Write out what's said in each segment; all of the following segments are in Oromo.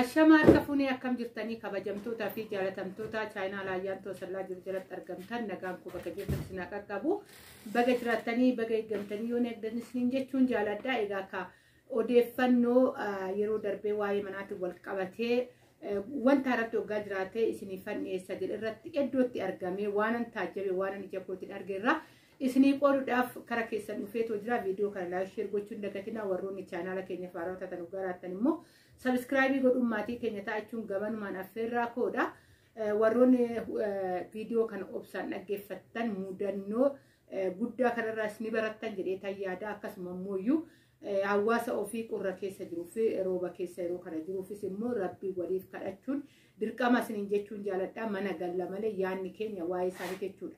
Ashama harka fuunee akkam jirtanii kabajamtootaa fi jaalatamtootaa chaayinaa laayyaan toosallaa jiru jalatti argamtan nagaan koo bakka jirtan isin qaqqabu baga jiraattanii baga eeggamtanii yoo eegdan isin jechuun jaaladha egaa ka odeeffannoo yeroo darbee waa'ee manaatiin wal qabatee wanta irratti waggaa jiraatee isinii fanniyeessa jedhe irratti iddootti argamee waanan taajjabe waanan ija kootiin arge irraa Isinii qooduudhaaf kara keessan dhufeetoo jira. Viidiyoo kana laayik sheer gochuu hin dagatinaa. Warroonni chaanaala keenya faaraa taatan nu garaattan immoo sabiskiraayibii godhuun maatii keenya ta'achuun gamanumaan affeerraa koodha. Warroonni viidiyoo kana obsaan dhaggeeffattan mudannoo guddaa kanarraas ni barattan jedhee tayyaada akkasuma immoo Hawaasa ofii qorra keessa jiruu fi rooba keessa yeroo kana jiruufis immoo rabbii waliif kadhachuun dirqama isiniin jechuun jaaladha mana galla malee yaanni keenya waa'ee isaanii jechuudha.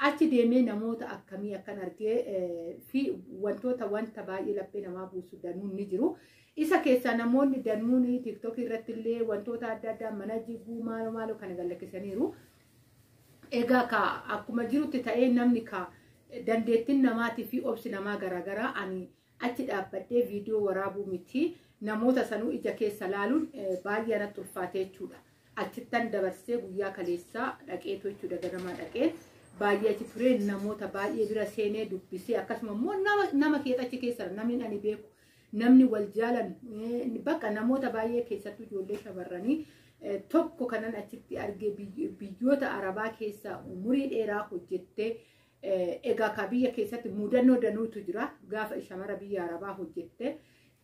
Achi deemee namoota akkamii akkan argee fi wantoota wanta baay'ee laphee namaa buusu danuun ni jiru. Isa keessaa namoonni danuun tiktokii irratti illee wantoota adda addaa mana jiguu maalo maalo kana gallakkisaniiru. Egaa kaa akkuma jirutti ta'ee namni kaa dandeettiin namaatii fi obsi namaa garaagaraa ani achi dhaabbadhee viidiyoo waraabuu miti namoota sanuu ija keessa laaluun baay'ee anatti ulfaatee jechuudha. Achittan dabarsee guyyaa kaleessaa dhaqeetu jechuudha ganamaa dhaqee baay'ee achi turee namoota baay'ee bira seenee dubbisee akkasuma immoo nama keessa achi keessa namni ani beeku namni wal jaalan bakka namoota baay'ee keessattuu ijoollee shamarranii tokko kanan achitti arge biyyoota arabaa keessa umurii dheeraa hojjettee egaa ka biyya keessatti mudannoo danuutu jira gaafa shamara biyya arabaa hojjette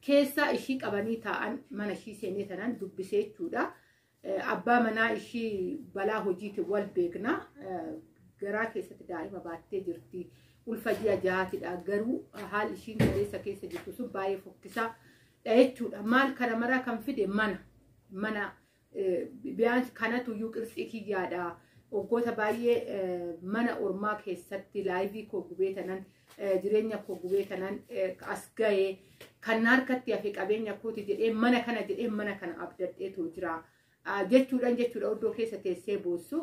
keessaa ishii qabanii taa'an mana ishii seenee tanan dubbisee jechuudha. Abbaa manaa ishii balaa hojiitiin wal beekna. Garaa keessatti daa'ima baattee jirti. Ulfa ji'a jahaatidha. Garuu haalli ishiin kaleessa keessa jirtu sun baay'ee fokkisaa dha jechuudha. Maal kana maraa kan fide mana. Mana biyyaansi kanatu iyyuu qirtsii kiyyaadha. Waggoota baay'ee mana ormaa keessatti laayivii koo gubee tanan jireenya koo gubee kanan as ga'e kan harkatti hafe qabeenya kooti jedhee mana kana jedhee mana kana abdadheetu jira. Jechuudhaan jechuudha oddoo keessa teessee boossu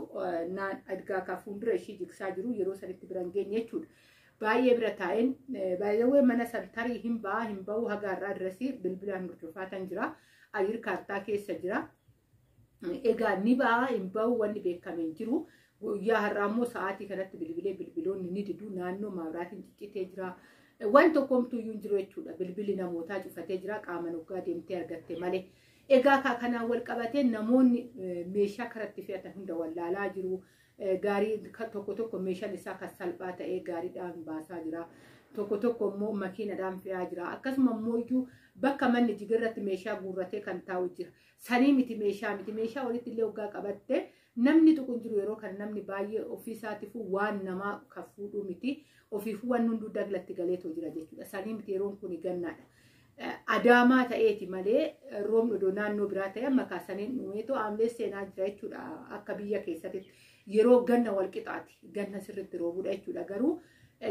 naan adgaa kan fuuldura ishii jigsaa jiru yeroo sanitti bira hin geenye jechuudha. Baay'ee bira taa'een baay'ee mana san tarii hin ba'a hin ba'u haga har'aa dirasii bilbilaan hordofaa kan jira. Ayir kaartaa keessa jira. Egaa ni ba'a hin ba'u wanni beekame hin jiru. Guyyaa har'aa immoo sa'aatii kanatti bilbilee bilbiloonni ni didu naannoo maabiraatiin ciccitee jira. Waan tokkomtuu iyyuu hin jiru jechuudha. Bilbilli namootaa cufatee jira qaama nuggaa deemtee argatte malee. Egaa kaa kanaan wal qabatee namoonni meeshaa karatti fe'atan hunda wallaalaa jiru. Gaarii tokko tokko meeshaan isaa kan salphaa ta'ee gaariidhaan baasaa jira. Tokko tokko immoo makiinadhaan fe'aa jira. Akkasuma immoo iyyuu bakka manni jigarratti meeshaa guurratee kan taa'u jira. Sanii miti meeshaa miti meeshaa walitti illee hoggaa qabatte namni tuqu hin jiru yeroo kan namni baay'ee ofii isaatiifuu waan namaa kan fuudhuu miti ofiifuu waan hunduu daglatti galeetoo jira jechuudha. Sanii miti yeroon kun gannaadha. Adaamaa ta'eeti malee roobni odoo naannoo biraa ta'e amma kaasaniin dhumeetoo aamlee seenaa jira jechuudha akka biyya keessatti yeroo ganna wal qixaati ganna sirriitti roobudha jechuudha garuu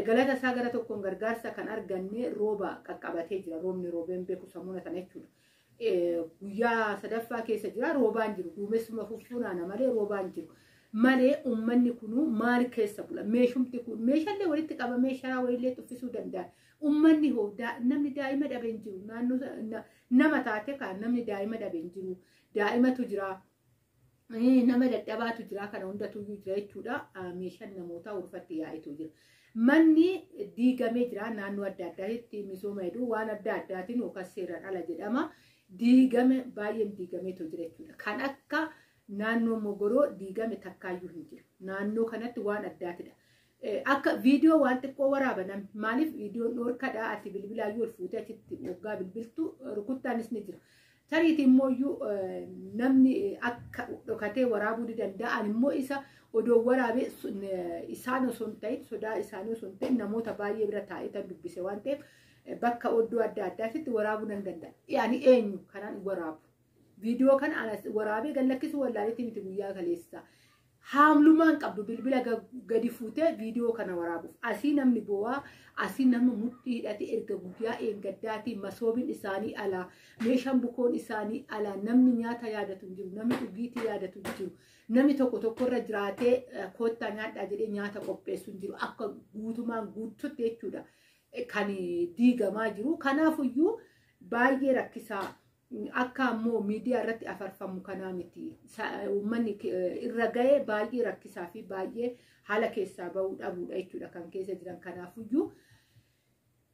galata isaa gara tokkoon gargaarsa kan arganne rooba qaqqabatee jira roobni roobeen beeku sammuna sana jechuudha. guyyaa sadaffaa keessa jira roobaan jiru duumessuma fuffuunaana malee roobaan jiru malee ummanni kunuu maal keessa bula meeshumti kun meeshaalee walitti qabamee sharaa wayillee tuffisuu danda'a ummanni hoo namni daa'ima dhabe hin jiru naannoo nama taate kaan namni daa'ima dhabe hin jiru daa'imatu jira nama dadhabaatu jira kana hundatu jira jechuudha meeshaan namootaa urfatti yaa'itu jira manni diigamee jira naannoo adda addaatti misooma hedduu waan adda addaatiin yookaan seeraan ala jedhama diigame baay'een diigameetu jira jechuudha kan akka naannoo mogoroo diigame takkaayyuu hin jiru naannoo kanatti waan addaatidha Akka viidiyoo waan xiqqoo waraaban maaliif viidiyoon dhoorkadha ati bilbilaa yoo ol fuutee achitti waggaa bilbiltu rukuttaanis ni jira. Tariitii immoo iyyuu namni akka dhokatee waraabuu ni danda'a. Ani immoo isa odoo waraabee isaan osoo hin ta'in sodaa isaanii osoo hin ta'in namoota baay'ee bira taa'ee tan dubbise waan ta'eef bakka oddoo adda addaatitti waraabuu nan danda'a. Ani eenyu kanaan waraabu. Viidiyoo kana waraabee gallakkisuu wallaalee miti guyyaa kaleessaa. Haamlumaan qabdu bilbila gadi fuutee viidiyoo kana waraabuuf asii namni bowaa asii nama mudhii hidhate erga guyyaa eeggaddaatii masoobiin isaanii alaa meeshaan bukoon isaanii alaa namni nyaata yaadatu hin jiru namni dhugiitii yaadatu hin jiru namni tokko tokkorra jiraatee koottaa nyaadhaa jedhee nyaata qopheessu hin jiru akka guutumaan guututti jechuudha kan diigamaa jiru kanaafuyyuu baay'ee rakkisaa Akka ammoo miidiyaa irratti afarfamu kanaa miti. Uummanni irra ga'e baay'ee rakkisaa fi baay'ee haala keessaa ba'uu dhabuudha jechuudha kan keessa jiran. Kanaafuyyuu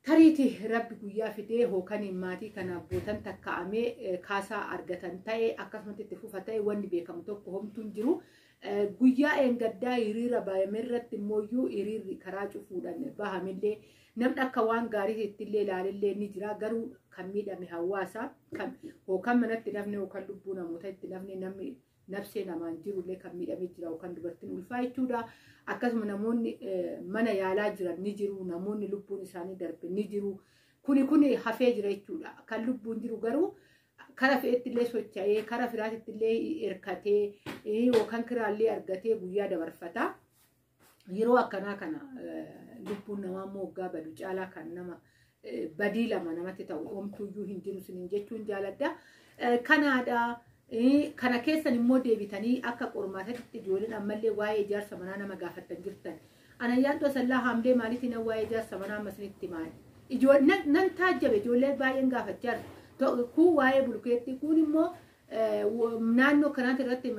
tariiti rabbi guyyaa fidee hookaniin maatii kanaaf bootan takka'amee kaasaa argatan ta'e akkasumatti itti fufa ta'e wanni beekamu tokko homtuu hin jiru. Guyyaa eengaddaa hiriira baay'ame irratti immoo hiriirri karaa cufuudhaan bahamillee Namni akka waan gaarii ittillee ilaalillee ni jira garuu kan miidhame hawaasa kan hookan manatti nafne hookan lubbuu namoota itti nafne namni nafsee namaan jirullee kan miidhame jira hookan dubartiin ulfaa jechuudha. Akkasuma namoonni mana yaalaa jiran ni jiru namoonni lubbuun isaanii darbe ni jiru. Kuni kuni hafee jira jechuudha. Kan lubbuun jiru garuu kara fe'ettillee socha'ee kara firaatittillee hirkatee yookaan kiraallee argatee guyyaa dabarfata. Yeroo akkanaa kana lubbuun namaa immoo waggaa badu caalaa kan nama badii lama namatti ta'u omtuuyyuu hin jiru sinin jechuun jaaladha. Kanaadha. Kana keessan immoo deebitanii akka qormaatatti ijoolleen ammallee waa'ee ijaarsa manaa nama gaafattan jirtan. Ana yaaddoo sallaa haamlee maaliif nan waa'ee ijaarsa manaa amma isinitti maali? Ijoolleen nan taajjabe ijoollee baay'een gaafachaa jiru. Kun waa'ee bulkeettii kun immoo naannoo kanaati irratti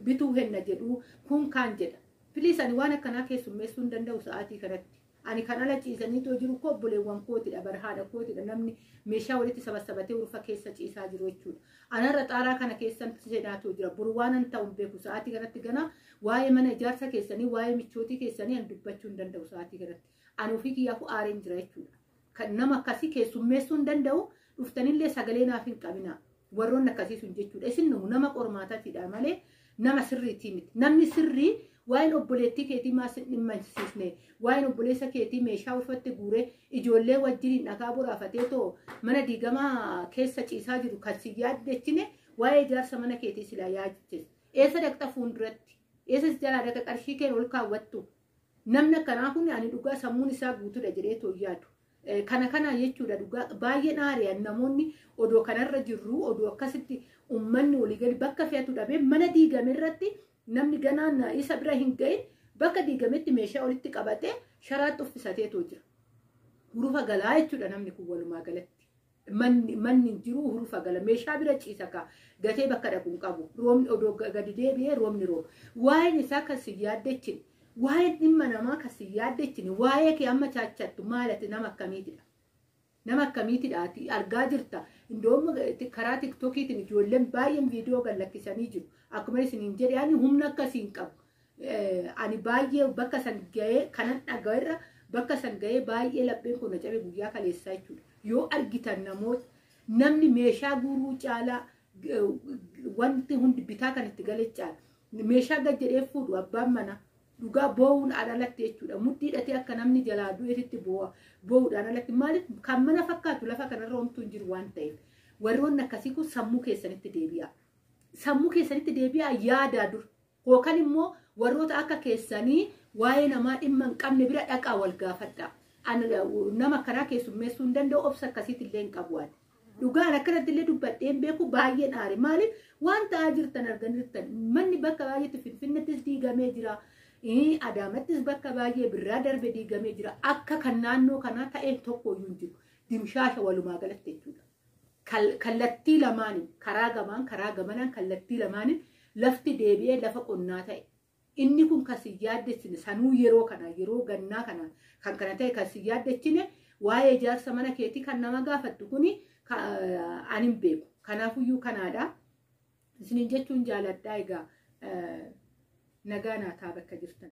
bituu henna jedhu kun kaan jedha. Piliis ani waan akkanaa keessummeessuu hin danda'u sa'aatii kanatti. Ani kan ala ciisanii too jiru koo obboleewwan kootidha bara haadha kootidha namni meeshaa walitti sabassabatee ulfa keessa ciisaa jiru jechuudha. Anarra xaaraa kana keessan seenaa too jira. Buru waan an ta'u hin beeku sa'aatii kanatti ganaa waa'ee mana ijaarsa keessanii waa'ee michootii keessanii an dubbachuu hin danda'u sa'aatii kanatti. Ani ofii kiyyaafuu aareen jira jechuudha. Kan nama akkasii keessummeessuu hin danda'u. Dhuftanillee sagalee naaf hin qabinaa. Warroonni akkasii sun jechuudha. Isin numu nama qormaatatiidha malee nama sirriitii miti. Namni sirrii waa'een obboleettii keetii maa sin dhimmansiisne waa'een obboleessa keetii meeshaa ulfatte guuree ijoollee wajjiniin dhagaa boraafatee too mana diigamaa keessa ciisaa jiru kan si yaaddechine waa'ee ijaarsa mana keetii silaa yaadachise. Eessa dhaqxa fuulduratti? Eessa si jalaa dhaqa qarshii keen ol kaawwattu? Namni akkanaa kun ani dhugaa sammuun isaa guutuudha jedhee too yaadu. Kana kanaa jechuudha dhugaa baay'een aari'an namoonni odoo kanarra jirru odoo akkasitti ummanni olii gadi bakka fe'atu dhabee mana diigame irratti namni ganaan isa bira hin ga'in bakka diigametti meeshaa walitti qabatee sharaatti uffisateetoo jira. Hurufa galaa jechuudha namni kun walumaa galatti. Manni manni hin jiru hurufa gala meeshaa bira ciisa ka gatee bakka dhaqu hin qabu roobni odoo ga- gadi deebi'ee roobni rooba waa'een isaa kan si yaaddechine waa'een dhimma namaa kan si yaaddechine waa'ee kee amma chaachattu maal ati nama akkamiitidha nama akkamiitidha ati argaa jirta indoom karaa tiktokiitiin ijoolleen baay'een viidiyoo gad lakkisanii jiru akkuma isiniin jedhe ani humna akkasii hin qabu Ani baay'ee bakka san ga'ee kanan dhaga'erra bakka san ga'ee baay'ee lapheen koo na cabe guyyaa kaleessaa jechuudha. Yoo argitan namoota namni meeshaa guuruu caalaa wanti hundi bitaa kan itti gale caala. Meeshaa gad jedhee fuudhu abbaan manaa dhugaa boo'uun alatti jechuudha. Mudhii hidhatee akka namni jalaa du'eetitti boo'a boo'uudhaan alatti maaliif kan mana fakkaatu lafa kanarra homtuu hin jiru waan ta'eef warroonni akkasii kun sammuu keessanitti deebi'a. Sammuu keessanitti deebi'a yaadaa dur Ykn immoo warroota akka keessanii waa'ee namaa dhimma hin qabne bira dhaqaa wal gaafadhaa. An nama akkanaa keessummeessuu hin danda'u obsa akkasiitti illee hin qabu ani. Dhugaan akkanatti illee dubbadhee hin beeku baay'een aare. Maaliif waan ta'aa jirtan argan jirtan manni bakka baay'eetti Finfinnettis diigamee jira. Ii, Adaamattis bakka baay'ee birraa darbe diigamee jira. Akka kan naannoo kanaa ta'e tokko iyyuu hin jiru. Dimshaasha walumaa galatti jechuudha. kallattii lamaaniin karaa gamaan karaa gamanaan kallattii lamaaniin lafti deebi'ee lafa qonnaa ta'e. Inni kun kan si yaaddessine sanuu yeroo kana yeroo gannaa kana kan kana ta'e kan si yaaddechine waa'ee ijaarsa mana keetii kan nama gaafattu kuni ani hin beeku. Kanaafuyyuu kanaadha. Isiniin jechuun jaaladhaa egaa nagaa naataa bakka jirtan.